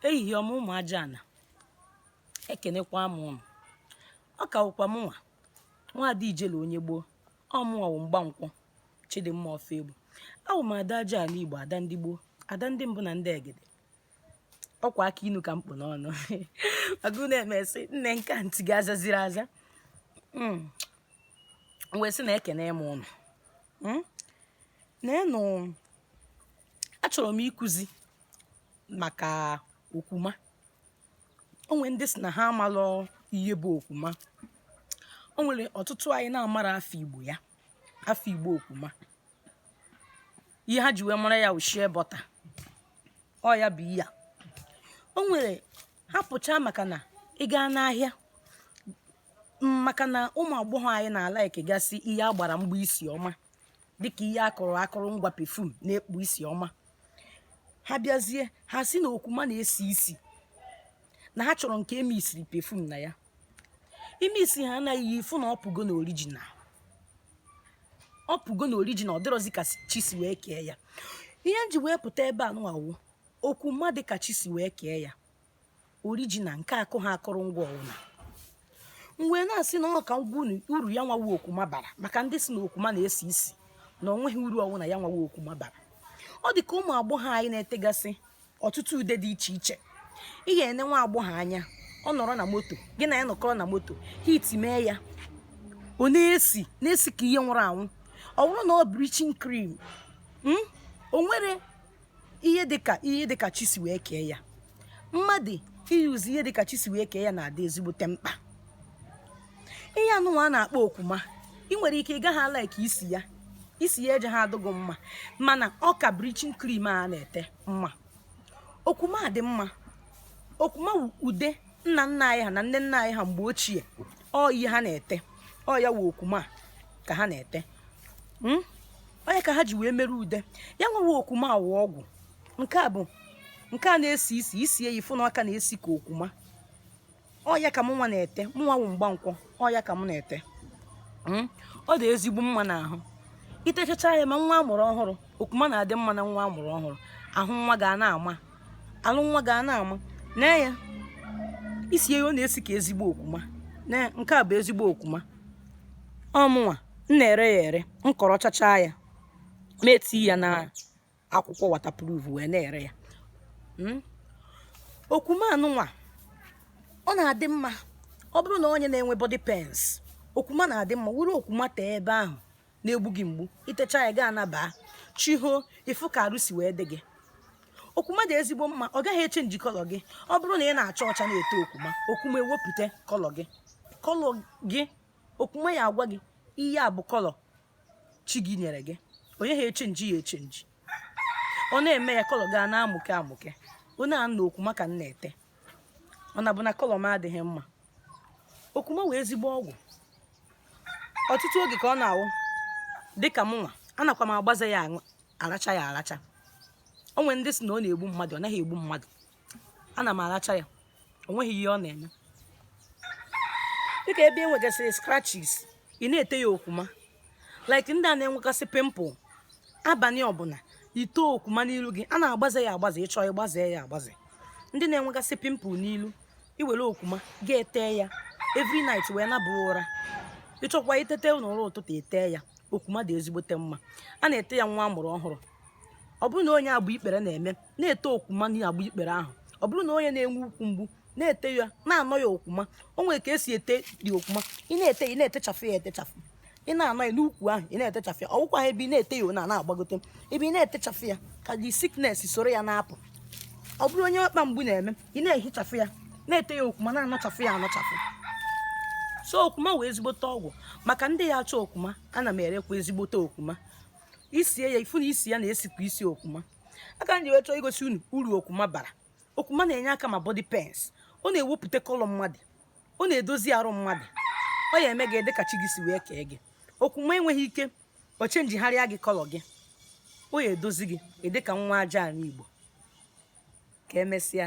ehihie ọma ụmụ aja ana ekenekwa m ụnụ ọ ka wụkwa mụnwa nwaada ijele onye gboo ọ mụnwa wụ mgbankwọ chidimma ọfọegbu awụ m ada aja ana igbo ada ndị gboo ada ndị mbụ na ndị egede ọkwa akụ inu ka m kpụ n'ọnụ agụ na-emesị nne nka ntị gị azaziri aza m wee sị na ekene m ụnụ neenụ achọrọ m ịkụzi maka okwuma o nwere ndị sị na ha amalụ ihe bụ okwuma o nwere ọtụtụ anyị na-amara afa igbo ya afa igbo okwuma ihe ha ji wee mara ya ọ shea butter ọ ya bụ ihe a o nwere ha pụchaa maka na ị gaa n'ahịa maka na ụmụ agbọghọ anyị na-alaịkịgasị ihe a gbara mgba isi ọma dịka ihe a kụrụ akụrụngwa perfume na-ekpu isi ọma ha bịazie ha sị na okwuma na-esi isi na ha chọrọ nke e mixiri perfume na ya ime isi ha anaghị ya ị fụ na ọ pụgo na original ọ pụgo na original dịrọzi ka chi si wee kee ya ihe m ji wee pụta ebe anụnwa wụ okwuma dị ka chi si wee kee ya original nke akụha akụrụngwa ọwụna mgbe na-asị na ọ ka m gwa uru ya nwa wụ okwuma bara maka ndị sị na okwuma na-esi isi na ọ nweghị uru ọwụna ya nwa wụ okwuma bara ọ dị ka ụmụ agbọghọ anyị na-etegasị ọtụtụ ude dị iche iche ị ga-ene nwa agbọghọ anya ọ nọrọ na moto gị na ya nọkọrọ na moto heat mee ya ọ na-esi na-esi ka ihe nwụrụ anwụ ọ bụrụ na ọ bleaching cream o nwere ihe dịka ihe dịka chi si wee kee ya mmadụ iyuzi ihe dịka chi si wee kee ya na-adị ezigbote mkpa ihe anụnwa a na-akpọ okwuma ị nwere ike ị gaghị alike isi ya isi ya ejeha adị gị mma mana ọ ka bleaching cream a na-ete mma okwuma dị mma okwuma ude nna nna anyị ha na nne nna anyị ha mgbe ochie ọ ihe ha na-ete ọ ya wụ okwuma ka ha na-ete hmm? ọ ya ka ha ji wee emere ude ya nwa wụ okwuma a wụ ọgwụ nke a bụ nke a na-esi isi isi eyi fụ n'aka na-esi ka okwuma ọ ya ka mụnwa na-ete mụnwa wụ mgbankwọ ọ ya ka m na-ete hmm? ọ dị ezigbo mma n'ahụ itechacha ya ma nwa amụrụ ọhụrụ okwuma na-adị mma na nwa amụrụ ọhụrụ ahụ nwa ga na-ama ahụ nwa ga na-ama na ya isi eyi ọ na-esi ka ezigbo okwuma nke a bụ ezigbo okwuma ọ mụnwa m na-ere ya ere m kọrọchachaa ya ma eti ya na akwụkwọ waterproof wee na-ere ya hmm? okwuma nụnwa ọ na-adị mma ọ bụrụ na onye na-enwe body pains okwuma na-adị mma were okwuma tee ebe ahụ na-egbu gị mgbu i techa ya gaa nabaa chi ho ị fụ ka arụ si wee dị gị okwuma dị ezigbo mma ọ gaghị echenji kọlọ gị ọ bụrụ na ị na-acha ọcha na-ete okwuma okwuma ewepụta kọlọ gị kọlọ gị okwuma ya agwa gị ihe a bụ kọlọ chi gị nyere gị ọ yaha echenji ya echenji ọ na-eme ya kọlọ gị ana-amụke amụke onye a na okwuma ka m na-ete ọ na-abụ na kọlọ m adịghị mma okwuma wụ ezigbo ọgwụ ọtụtụ oge ka ọ na-awụ dịka mụnwa anakwa m agbaze ya aracha ya aracha o nwere ndị sị na ọ na-egbu mmadụ ọ naghị egbu mmadụ ana m aracha ya o nweghị ihe ọ na-eme dịka ebe e nwegasịrị scratches ị na-ete ya okwuma like ndị a na-enwegasị pimple abalị ọbụla i tee okwuma n'ilu gị a na-agbaze ya agbaze ị chọọ ịgbaze ya agbaze ndị na-enwegasị pimple n'ilu i were okwuma gị ete ya every night wee naba ụra ị chọkwa itete n'ụra ụtụtụ etee ya okwuma dị ezigbote mma a na-ete ya nwa a mụrụ ọhụrụ ọ bụrụ na onye agba ikpere na-eme na-ete okwuma na agba ikpere ahụ ọ bụrụ na onye na-enwe ukwu mgbu na-ete ya na-anọ ya okwuma o nwere ka e si etedị okwuma ị na-ete ị na-etechafụ ya etechafụ ị na-anọ ya n'ukwu ahụ ị na-etechafụ ya ọ wụkwaha ebe ị na-ete ya na na-agbagote ebe ị na-etechafụ ya ka the sickness soro ya na-apụ ọ bụrụ onye ọkpa mgbu na-eme ị na-ehichafụ ya na-ete ya okwuma na-anọchafụ ya anọchafụ so okwuma wụ ezigbote ọgwụ maka ndị ya achọ okwuma ana m erekwa ezigbote okwuma i sie ya ị fụ na isi ya na-esikwa isi okwuma a ka m ji wee chọọ igosi unu uru okwuma bara okwuma na-enye aka ma body pains ọ na-ewepụta kọlọ mmadụ ọ na-edozi arụ mmadụ ọ ya eme gị ịdị ka chi gị si wee kee gị okwuma enweghị ike ọ chenjigharịa gị kọlọ gị ọ ya edozi gị ịdị ka nwa aja ana igbo ka emesịa